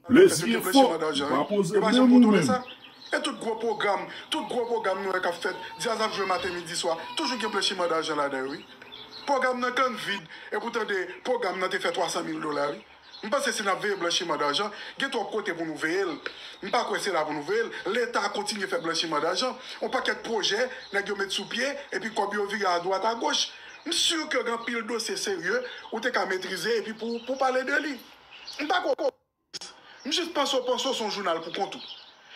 Les vieux fo ou pa poze menm ou menm. E tout gwo pwogram, tout gwo pwogram nou wè kap fèt, djaz ap jwe maten midi swa, toujou gen blanchiman dajan ladan yo wi. Pwogram nan tann vid epi w tande pwogram nan te fè 300 mil dola wi. M panse si nap veye blanchiman dajan, gen twòp kote pou nou veye l. M pa kwè se la pou nou veye l. Leta kontinye fè blanchiman dajan, on pakèt pwojè nèg yo met sou pye epi kòb yo vire adwat agoch. M sur ke gen anpil dosye serye ou te ka metrize epi pou w pale de li. M pa kwè w Pòtoprens. M jis panse w panse w se yon jounal pou kont ou.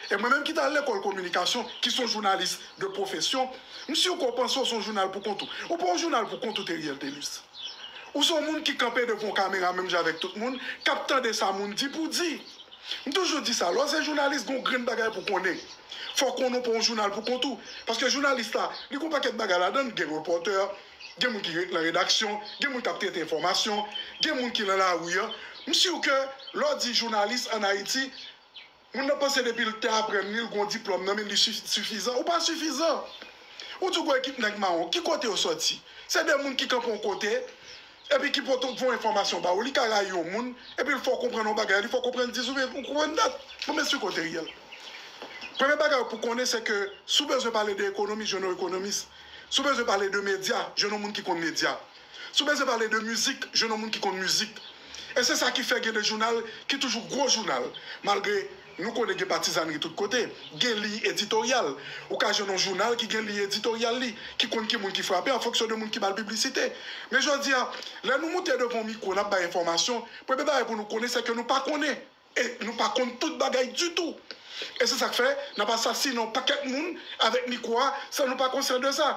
E mwen menm ki t al lekòl kominikasyon, ki se yon jounalis de pwofesyon, m si w ke w panse w se yon jounal pou kont ou. Ou pa yon jounal pou kont ou Theriel Thelus. Ou se yon moun ki kanpe devan yon kamera menm jan avèk tout moun, k ap tande sa moun di pou di. M toujou di sa, lè w se jounalis gen yon grenn bagay pou w konnen. Fò w konnen w pa yon jounal pou kont ou. Paske jounalis la, li gen yon pakèt bagay ladan l, gen repòtè, gen moun ki ret lan redaksyon, gen moun k ap trete enfòmasyon, gen moun ki lan lari an. M sur ke lè w di jounalis an Ayiti, moun nan panse depi l te aprann li, l gon diplòm nan men li sifizan. Ou pa sifizan. Ou di w gon ekip nèg mawon. Ki kote yo sòti? Se de moun ki kanpe yon kote epi ki pote yon enfòmasyon ba ou. Li ka rayi yon moun epi l fè w konprann yon bagay, li fè w konprann 10 oubyen ou konprann dat. Bon, men sur ke w te riyèl. Premye bagay pou w konnen se ke si w bezwen pale de ekonomi, jwenn yon ekonomis. Si w bezwen pale de medya, jwenn yon moun ki konn medya. Si w bezwen pale de mizik, jwenn yon moun ki konn mizik. E se sa ki fè gen de jounal ki toujou gwo jounal. Malgre nou konnen gen patizànri tout kote, gen liy editoryal. Ou ka jwenn yon jounal ki gen liy editoryal li, ki konn ki moun ki frape an fonksyon de moun ki ba l piblisite. Men jodi a, lè nou moute devan yon mikwo n ap bay enfòmasyon, premye bagay pou nou konnen sèke nou pa konnen. E nou pa konn tout bagay ditou. E se sak fè nap asasinen yon pakèt moun avèk mikwo a san nou pa konsyan de sa.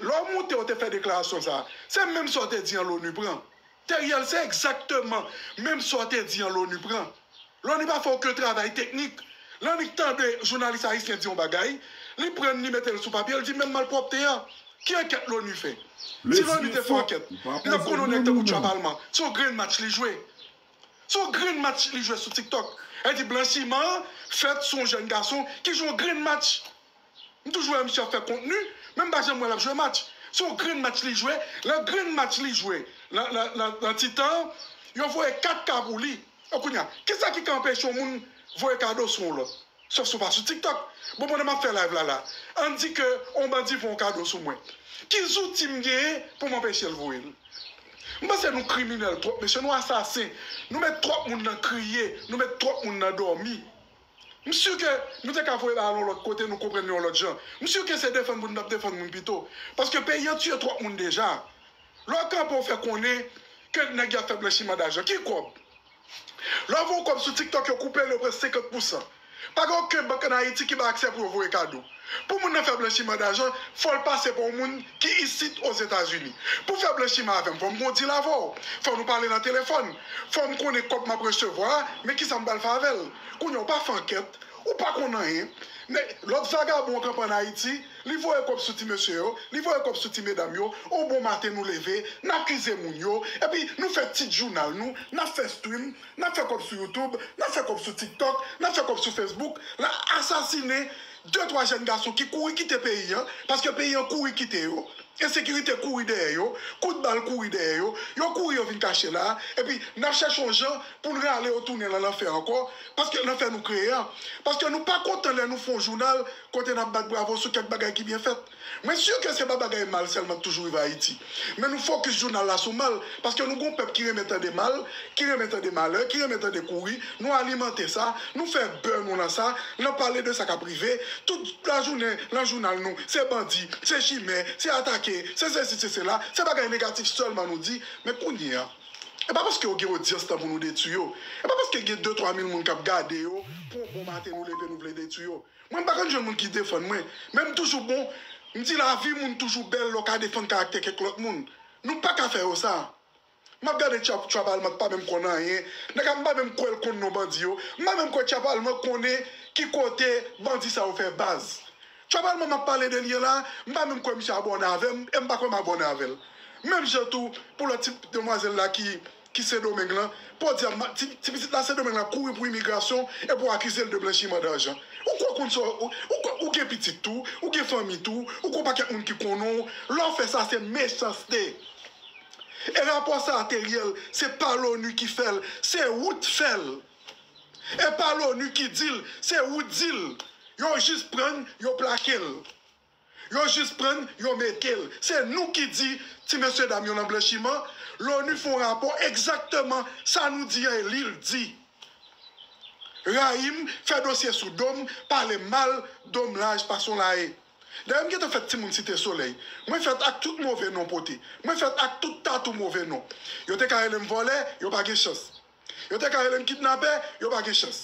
Lè w moute ou te fè deklarasyon sa a, se menm sa w te di an Loni pran. Theriel se egzakteman menm sa w te di an Loni pran. Loni pa fè oken travay teknik. Loni tande jounalis ayisyen di yon bagay, li prann li mete l sou papye, l di menm malpwòpte a. Ki ankèt Loni fè? Si Loni te fè ankèt, li tap konn yon nèg tankou Tchwabalman, se yon grenn match li jwe. Se yon grenn match li jwe sou tiktok e di blanchiman an fèt sou yon jèn gason ki jwe yon grenn match. M toujou wè misye ap fè kontni men m pa janm wè l ap jwe match. Se yon grenn match li jwe, nan grenn match li jwe nan ti tan an, yo voye 4 ka pou li. E kounye a, kisa ki ka anpeche yon moun voye kado sou yon lòt? Sòf si w pa sou tiktok. Bon pandan map fè live la la ann di ke on bandi fè on kado sou mwen ki zouti m genyen pou m anpeche l voye l? M panse nou kriminèl twòp mesye nou asasen nou met twòp moun nan kriye nou met twòp moun nan dòmi m si ke nou te ka voye bagay la yon lòt kote nou konprann li yon lòt jan m si ke se defann moun n tap defann moun pito paske peyi an tiye twòp moun deja lè w kanpe w fè konnen ke nèg yo ap fè blanchiman dajan ki kòb Lè yo voye w kòb sou TikTok yo koupe l yo pran 50 pousan. Pa gen oken bank an Ayiti ki bay aksè pou yo voye kado. Pou moun nan fè blanchiman dajan fò l pase pa yon moun ki isit Ozetazini. Pou fè blanchiman avè m fò m gen yon dil avè w, fò nou pale nan telefòn, fò m konnen kòb m ap resevwa a men kisa m pral fè avè l. Kounye a ou pa fè ankèt, ou pa konn anyen. Men lòt vagabon an kanpe an Ayiti Li voye kob sou ti mesye yo, li voye kob sou ti medam yo, on bon maten nou leve, n akize moun yo, epi nou fè tit jounal nou, n ap fè stream, n ap fè kob sou youtube, n ap fè kob sou tiktok, n ap fè kob sou facebook, n ap asasine de twa jèn gason ki kouri kite peyi an, paske peyi an kouri kite yo, ensekirite kouri dèyè yo, kout bal kouri dèyè yo, yo kouri yo vin kache la, epi n ap chèche on jan pou n rale yo tounen lan lanfè ankò, paske lanfè nou kreye an, paske nou pa kontan lè nou fè on jounal kote n ap bat bravo sou kèk bagay ki byen fèt. Mwen si ke se pa bagay mal sèlman k toujou rive Ayiti. Men nou fokis jounal la sou mal, paske nou gen yon pèp ki renmen tande mal, ki renmen tande malè, ki renmen tande kouri, nou alimante sa, nou fè bè nou nan sa, nan pale de sa k ap rive, tout lajounen nan jounal nou, se bandi, se chimè, se atake, se sesi, se sela, se bagay negatif sèlman nou di. Men kounye a, e pa paske yo gen odyans tan pou nou detui yo, e pa paske gen de twa mil moun k ap gade yo pou yon bon maten nou leve nou vle detui yo. Mwen pa konn jwenn moun ki defann mwen, men m toujou bon, m di lavi moun toujou bèl lè w ka defann karaktè kèk lòt moun. Nou pa ka fè yo sa. M ap gade Tchap Tchap Alman k pa menm konn anyen, nèg a m pa menm kwè l konn non bandi yo, m pa menm kwè Tchap Alman konnen ki kote bandi sa yo fè baz. Tchap Alman m ap pale de li an la, m pa menm kwè misye abòne avè m e m pa kwè m abòne avè l. Menm jan tou pou lòt ti demwazèl la ki. ki Sendomeng lan, podyab ma, ti, ti pitit la Sendomeng la kouri pou imigrasyon e pou akize l de blanchiman darjan. Ou kwè w konn sa w, ou kwè ou gen pitit tou, ou gen fanmi tou, ou gon pakèt moun ki konnen w, lè w fè sa se mechanste. E rapò sa a te riyèl, se pa loni ki fè l, se ou t fè l. E pa loni ki di l, se ou t di l. Yo jis pran l, yo plake l. Yo jis prann yo metel. Se nou ki di ti mesye dam yo nan blanchiman, Lonu fon rapò egzakteman sa nou di an e lil di. Rayim fè dosye sou dom, pale mal dom laj pason la e. Dayè m gentan fèt timoun site solèy. Mwen fèt ak tout move non pote. Mwen fèt ak tout tatou move non. Yo te ka relem vòlè, yo pa gen chans. Yo te ka rele m kidnapè, yo pa gen chans.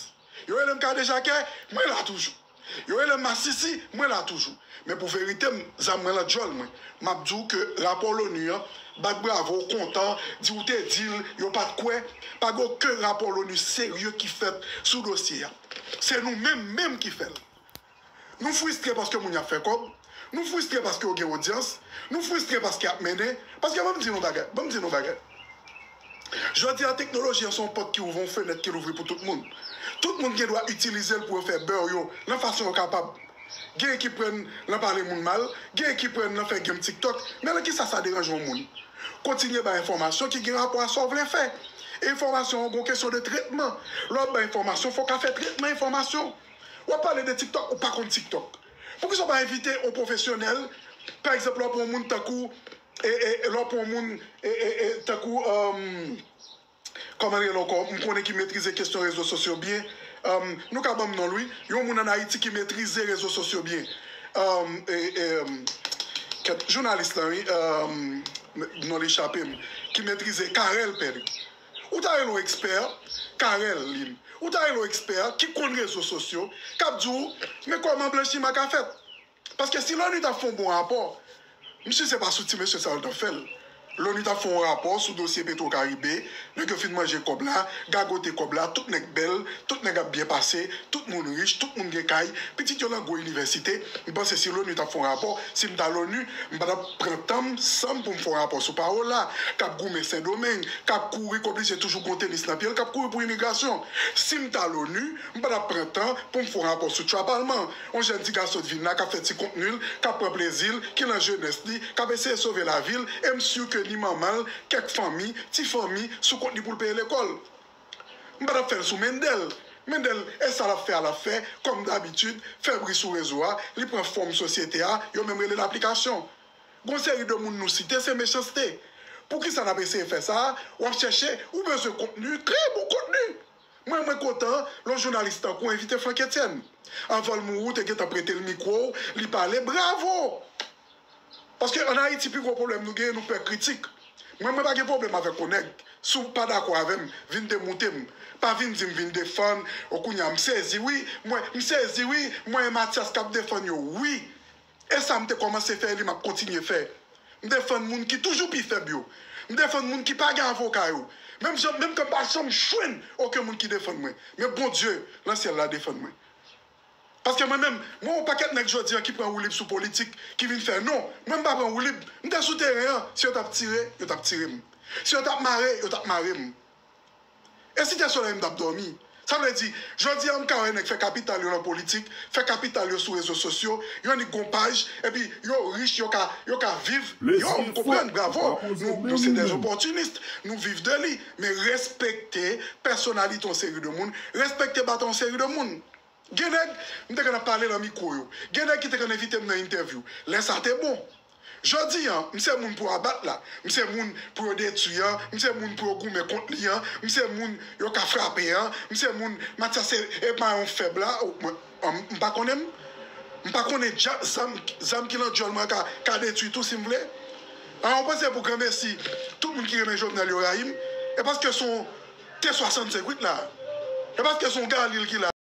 Yo rele m kadejakè, mwen la toujou. Yo rele m masisi, mwen la toujou. Men pou verite m, zam mwen lan dyòl mwen. M ap di w ke rapò l'ONU an, bat bravo, kontan, di ou te di l, yo pa t kwè. Pa gen oken rapò l'ONU serye ki fèt sou dosye a. Se nou menm menm ki fè l. Nou fristre paske moun y ap fè kòb, nou fristre paske yo gen odyans, nou fristre paske y ap mennen. Paske ban m di nou bagay, ban m di nou bagay. Jodi a teknoloji an se yon pòt ki ouvri, yon fenèt ki louvri pou tout moun. Tout moun gen dwa itilize l pou yo fè beur yo nan fason yo kapab. Genyen ki pran nan pale moun mal, genyen ki pran nan fè game tiktok, men nan kisa sa deranje yon moun? Kontinye bay enfòmasyon ki gen rapò a sa w vle fè. Enfòmasyon an gon kesyon de tretman. Lè w ap bay enfòmasyon, fò w ka fè tretman enfòmasyon. Wap pale de tiktok ou pa konn tiktok poukisa ou pa envite yon pwofesyonèl pa egzanp lè wap pran yon moun tankou lè wap pran yon moun tankou kòman li rele ankò m konnen ki metrize kesyon rezo sosyo byen nou ka banm nonl wi yon moun an ayiti ki metrize rezo sosyo byen kèt jounalis la wi non li chapem ki metrize Carel Pedre Ou ta rele yon ekspè, Carel Lynn, ou ta rele yon ekspè ki konn rezo sosyo, k ap di w, men kòman blanchiman ka fèt. Paske si l'ONU t ap fè yon bon rapò, m si se pa sou ti mesye sa yo t ap fè l. L'ONU t ap fè yon rapò sou dosye Petro Caribe, nèg yo fin manje kòb la, gagote kòb la, tout nèg bèl, tout nèg ap byen pase, tout moun rich, tout moun gen kay, pitit yo lan gwo inivèsite. M panse si l'ONU t ap fè yon rapò, si m ta l'ONU, m pa t ap. Pran tan m, san m pou m fè w rapò sou Paola, k ap goumen Sendomeng, k ap kouri, k oblije toujou gon tenis nan pye l, k ap kouri pou imigrasyon. Si m ta Loni, m pa t ap pran tan pou m fè w rapò sou Chwa Palman, yon jèn ti gason t vin la k ap fè ti kontni l, k ap pran plezi l, ki nan jenès li, k ap eseye sove lavi l, e m sur ke ni manman l, kèk fanmi, ti fanmi, sou kont li pou l peye lekòl. M pa t ap fè l sou Mendel. Mendel, e sa l ap fè a l ap fè, kòm dabitid, fè bri sou rezo a, li pran fòm sosyete a, yo menm rele l aplikasyon. Gon seri de moun nou site, se mechanste. Poukisa n ap eseye fè sa a? W ap chèche, ou bezwen kontni, kreye bon kontni! Mwen mwen kontan lè yon jounalis tankou w envite Frankétienne. Anvan l mouri w te gentan prete l mikwo w, li pale, bravo! Paske an Ayiti pi gwo pwoblèm nou genyen nou pè kritik. Mwen mwen pa gen pwoblèm avèk yon nèg, si w pa dakò avè m, vin demoute m. Pa vin di m vin defann, o kounye a m sezi wi, mwen, m sezi wi, mwen e Matyas k ap defann yo wi. E sa m te kòmanse fè e li m ap kontinye fè. M defann moun ki toujou pi fèb yo. M defann moun ki pa gen avoka yo. Menm jan, menm ke m pa janm jwenn oken moun ki defann mwen. Men Bondye lan syèl la defann mwen. Paske mwen menm, mwen wè yon pakèt nèg jodi an ki pran woulib sou politik, ki vin fè non. Mwen m pa pran woulib. M te sou teren an. Si yo t ap tire, yo t ap tire m. Si yo t ap mare, yo t ap mare m. E Site Solèy m t ap dòmi. Sa vle di, jodi an m ka wè nèg fè kapital yo nan politik, fè kapital yo sou rezo sosyo, yo nik gon paj, epi yo rich, yo ka, yo ka viv. Yo, m konprann, bravo, nou, nou se des opportunistes, nou viv de li. Men respekte pèsonalite yon seri de moun, respekte bata yon seri de moun. Gen nèg m te konn ap pale nan mikwo yo. Gen nèg ki te konn envite m nan entèvyou. Lè sa te bon. Jodi an, m se moun pou abat la. M se moun pou yo detui an. M se moun pou yo goumen kont li an. M se moun yo ka frape an. M se moun Matyas se e mayon fèb la. M pa konnen m. M pa konnen zam ki nan dyòl mwen an ka detui tou si m vle. A, ou panse pou granmesi tout moun ki renmen Jovenel yo rayi m? E paske se yon T-65 wi k la a. E paske se yon Galil ki la a.